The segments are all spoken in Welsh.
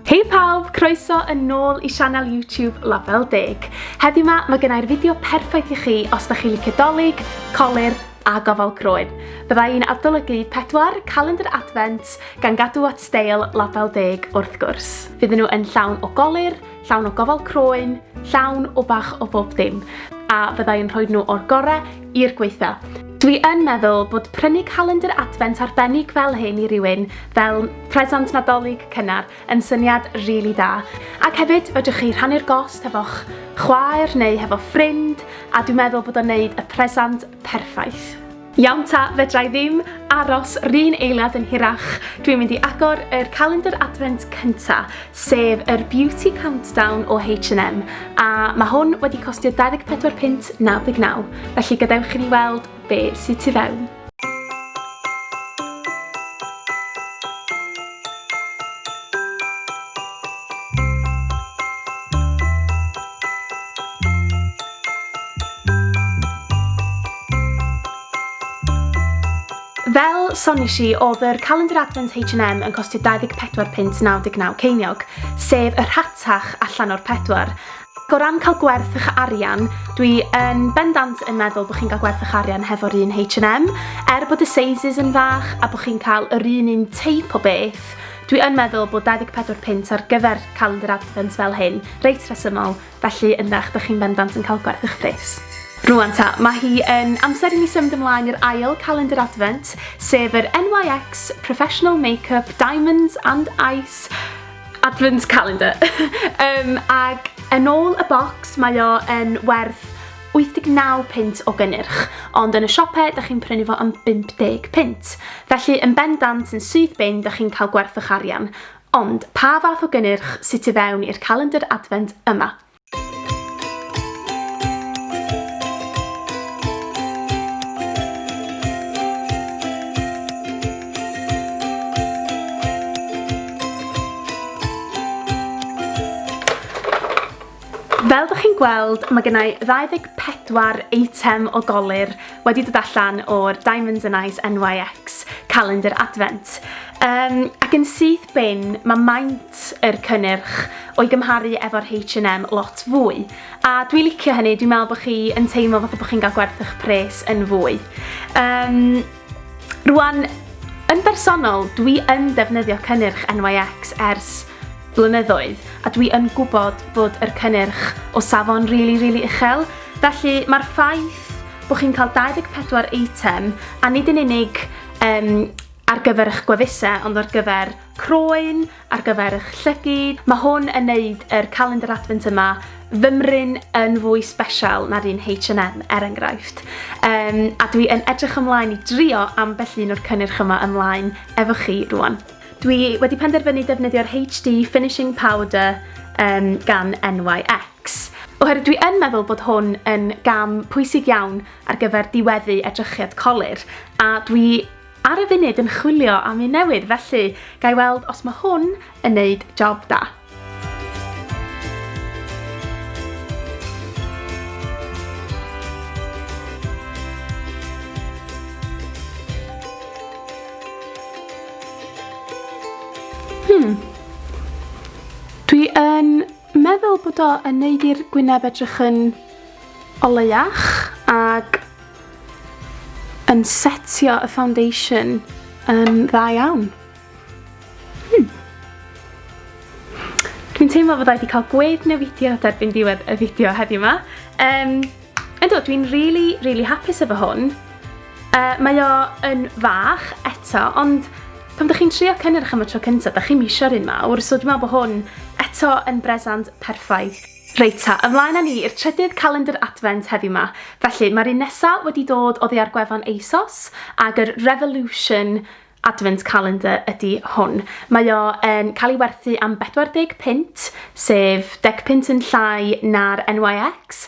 Hei pawb, croeso yn nôl i sianel YouTube Label Deg. Heddiw ma, mae gennau'r fideo perffaith i chi os da chi licio dolyg, colir a gofal croen. Bydda i'n adolygu pedwar calendr adfent gan gadw at steil Label Deg wrth gwrs. Fydden nhw yn llawn o golir, llawn o gofal croen, llawn o bach o bob dim, a fyddai yn rhoi nhw o'r gorau i'r gwaethaf. Dwi yn meddwl bod prynu calendr Adfent arbennig fel hyn i rywun, fel presant Nadolig cynnar, yn syniad rili da. Ac hefyd, fedrwch chi rhannu'r gost hefo'ch chwaer neu hefo ffrind, a dwi'n meddwl bod o'n neud y presant perffaith. Iawn ta, fedra i ddim aros run eiliad yn hirach, dwi'n mynd i agor yr calendr adfent cynta, sef yr Beauty Countdown o H&M, a mae hwn wedi costio 24 punt 99, felly gadewch i ni weld be sy tu fewn. Fel sonish i, oedd yr calendr advent H&M yn costio 24 punt 99 ceiniog, sef y rhatach allan o'r pedwar, O ran cael gwerth eich arian, dwi yn bendant yn meddwl bod chi'n cael gwerth eich arian hefo'r un H&M, er bod y sizes yn fach a bod chi'n cael yr un un teip o beth, dwi yn meddwl bod 24 punt ar gyfer calendar advent fel hyn reit rhesymol, felly yndach, dych chi'n bendant yn cael gwerth eich pres. Rwan ta, mae hi yn amser i ni symud ymlaen i'r ail calendar advent, sef yr NYX Professional Makeup Diamonds and Ice Advent calendar. um, ag yn ôl y bocs mae o yn werth 89 pint o gynnyrch, ond yn y siopau da chi'n prynu fo am 50 pint. Felly yn bendant yn syth bin da chi'n cael gwerth o'ch arian. Ond pa fath o gynnyrch sydd tu fewn i'r calendar advent yma? Fel ydych chi'n gweld, mae gennau 24 eitem o golir wedi dod allan o'r Diamonds and Ice NYX calendar advent. Um, ac yn syth bin, mae maint yr cynnyrch o'i gymharu efo'r Haitch and Em lot fwy. A dwi'n licio hynny, dwi'n meddwl bod chi yn teimlo fatha bod chi'n cael gwerth eich pres yn fwy. Um, rwan, yn bersonol, dwi yn defnyddio cynnyrch NYX ers blynyddoedd, a dwi yn gwybod bod yr cynnyrch o safon rili, really, rili really uchel. Felly, mae'r ffaith bod chi'n cael 24 eitem, a nid yn unig um, ar gyfer eich gwefusau, ond ar gyfer croen ar gyfer eich llygid. Mae hwn yn neud yr calendr advent yma fymryn yn fwy special na'r un H&M, er enghraifft. Um, a dwi yn edrych ymlaen i drio ambell un o'r cynnyrch yma ymlaen efo chi rwan. Dwi wedi penderfynu defnyddio'r HD Finishing Powder um, gan NYX. Oherwydd dwi yn meddwl bod hwn yn gam pwysig iawn ar gyfer diweddu edrychiad colir, a dwi Ar y funud yn chwilio am un newydd, felly ga i weld os mae hwn yn neud job da. Hmm. Dwi yn meddwl bod o yn neud i'r gwyneb edrych yn o leiach ac yn setio y foundation yn dda iawn. Hmm. Dwi'n teimlo bod wedi cael gwedd newidio derbyn diwedd y fideo heddiw yma. Um, Ynddo, dwi'n really, really hapus efo hwn. Uh, mae o yn fach eto, ond pan ydych chi'n trio cynnyrch am y tro cyntaf, ydych chi'n misio'r un mawr, so dwi'n meddwl bod hwn eto yn bresant perffaith. Reit ta, ymlaen â ni i'r trydydd calendr Advent heddiw 'ma. Felly, mae'r un nesa' wedi dod oddi ar gwefan ASOS, ag yr Revolution Advent Calendar ydi hwn. Mae o yn cael ei werthu am 40 punt, sef deg punt yn llai na'r NYX.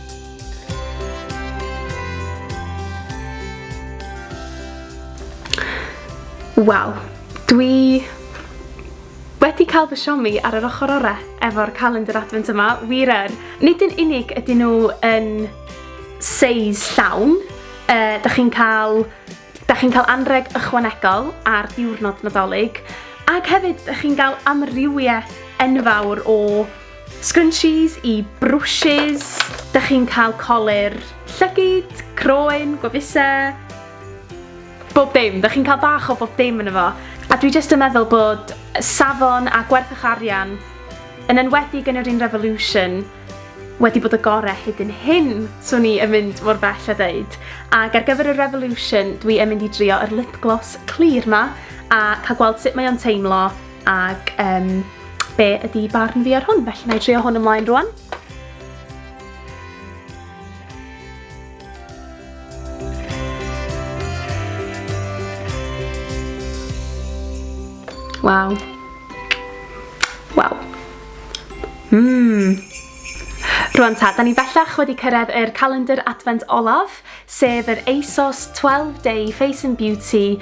Wel, dwi wedi cael fy siomi ar yr ochr orau efo'r calendar advent yma, wir er. Nid yn unig ydyn nhw yn seis llawn, uh, da chi'n cael, da chi'n cael anreg ychwanegol ar diwrnod nadolig, ac hefyd da chi'n cael amrywiaeth enfawr o Scrunchies i brwshys, dych chi'n cael colur llygyd, croen, gwefusau, bob dim, dych chi'n cael bach o bob dim yn efo. A dwi jyst yn meddwl bod safon a gwerthwch arian, yn enwedig yn yr un revolution, wedi bod y gorau hyd yn hyn, swn i yn mynd mor bell a dweud. Ac ar gyfer y revolution, dwi yn mynd i drio yr lip gloss clir ma, a cael gweld sut mae o'n teimlo, Ac um, be ydy barn fi ar hwn, felly na i trio hwn ymlaen rwan. Waw. Waw. Mmm. Rwan ta, da ni bellach wedi cyrraedd yr calendar advent olaf, sef yr ASOS 12 Day Face and Beauty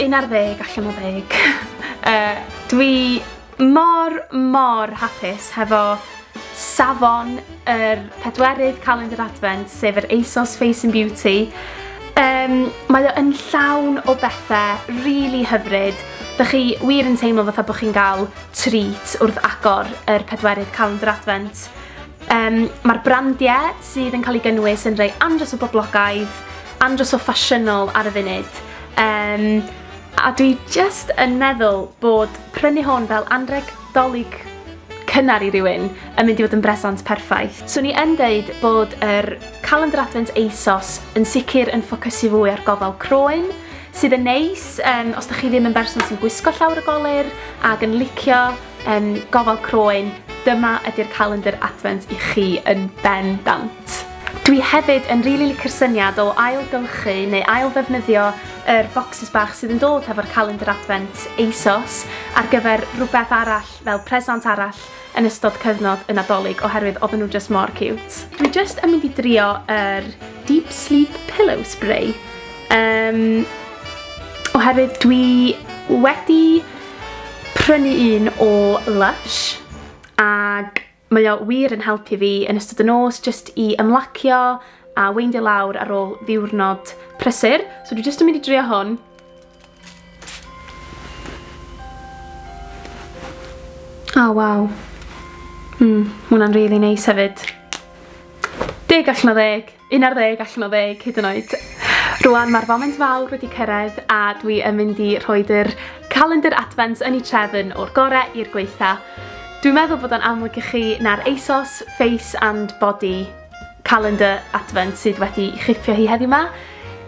Un ar ddeg allan o ddeg. Yy, dwi mor, mor hapus hefo safon yr pedwerydd calendr adfent, sef yr ASOS Face and Beauty. Um, mae o yn llawn o bethau rili really hyfryd. Dych chi wir yn teimlo fatha bod chi'n cael treat wrth agor yr pedwerydd calendr adfent. Um, Mae'r brandiau sydd yn cael ei gynnwys yn rhai andros o boblogaidd, andros o ffasiynol ar y funud. Um, a dwi just yn meddwl bod prynu hwn fel anreg dolyg cynnar i rywun yn mynd i fod yn bresant perffaith. So ni yn deud bod yr calendar advent ASOS yn sicr yn ffocysu fwy ar gofal croen, sydd yn neis um, os da chi ddim yn berson sy'n gwisgo llawr y golir ac yn licio Yym, gofal croen, dyma ydy'r calendr Advent i chi yn ben dant. Dwi hefyd yn rili licio'r syniad o ail-gylchu neu ail-ddefnyddio yr bocsys bach sydd yn dod hefo'r calendr Advent ASOS ar gyfer rhywbeth arall fel presant arall yn ystod cyfnod y Nadolig oherwydd oedden nhw jyst mor ciwt. Dwi jyst yn mynd i drio yr Deep Sleep Pillow Spray, yym, oherwydd dwi wedi prynu un o Lush ag mae o wir yn helpu fi yn ystod y nos jyst i ymlacio a weindio lawr ar ôl ddiwrnod prysur. So dwi jyst yn mynd i drio hwn. O oh, waw. Mm, hwnna'n rili really neis hefyd. Deg allan o ddeg. Un ar ddeg allan o ddeg hyd yn oed. Rwan mae'r foment fawr wedi cyrraedd a dwi yn mynd i rhoi yr calendr advent yn ei trefn o'r gore i'r gweitha. Dwi'n meddwl bod o'n amlwg i chi na'r ASOS Face and Body calendr advent sydd wedi chipio hi heddiw ma.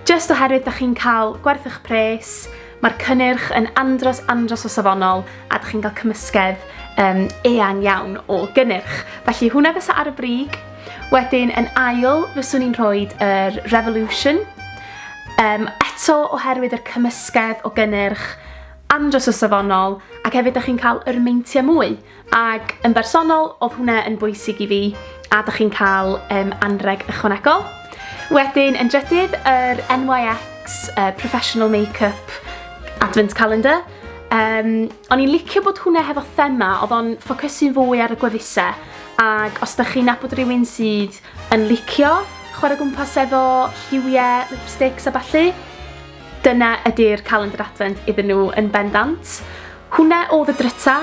Just oherwydd da chi'n cael gwerth eich pres, mae'r cynnyrch yn andros andros o safonol a da chi'n cael cymysgedd um, eang iawn o gynnyrch. Felly hwnna fysa ar y brig Wedyn yn ail, fyswn i'n rhoi yr Revolution. Um, eto oherwydd yr cymysgedd o gynnyrch andros o safonol ac hefyd da chi'n cael yr meintiau mwy. Ac yn bersonol, oedd hwnna yn bwysig i fi a da chi'n cael um, anreg ychwanegol. Wedyn yn drydydd, yr NYX uh, Professional Makeup Advent Calendar. Um, o'n i'n licio bod hwnna hefo thema, oedd o'n ffocysu'n fwy ar y gwefusau Ac os dych chi'n nabod rhywun sydd yn licio chwarae gwmpas efo lliwiau, lipsticks a ballu, dyna ydy'r calendr adfent iddyn nhw yn bendant. Hwna oedd y dryta,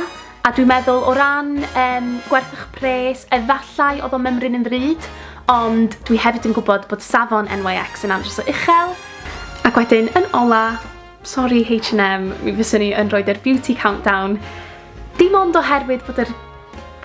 a dwi'n meddwl o ran um, gwerth eich pres, efallai oedd o mymryn yn ddrud, ond dwi hefyd yn gwybod bod safon NYX yn andros o uchel. Ac wedyn, yn ola, Sori H&M, mi fyswn i yn rhoid yr Beauty Countdown, dim ond oherwydd bod yr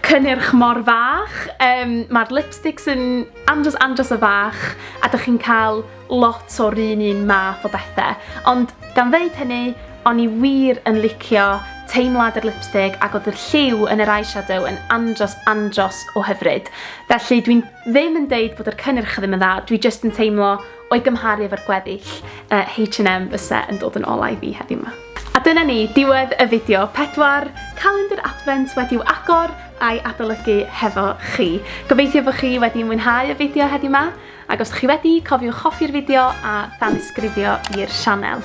cynnyrch mor fach, um, mae'r lipsticks yn andros andros o fach, a dych chi'n cael lot o'r un un math o bethau. Ond gan ddeud hynny, o'n i wir yn licio teimlad yr lipstick ac oedd y lliw yn yr eyeshadow yn andros andros o hyfryd. Felly dwi'n ddim yn deud bod yr cynnyrch ddim yn dda, dwi jyst yn teimlo O'i gymharu efo'r gweddill, H&M fyse yn dod yn olau fi heddiw 'ma. A dyna ni, diwedd y fideo. Pedwar calendr Advent wedi'w agor a'i adolygu hefo chi. Gobeithio bo chi wedi mwynhau y fideo heddiw 'ma, ac os 'dych chi wedi, cofiwch hoffi'r fideo a thanysgrifio i'r sianel.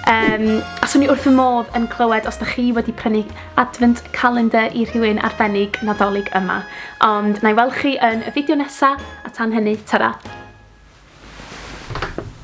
Yym, a swn i wrth fy modd yn clywed os 'dych chi wedi prynu Advent Calendar i rhywun arbennig Nadolig yma. Ond na i weld chi yn y fideo nesa, a tan hynny, tara!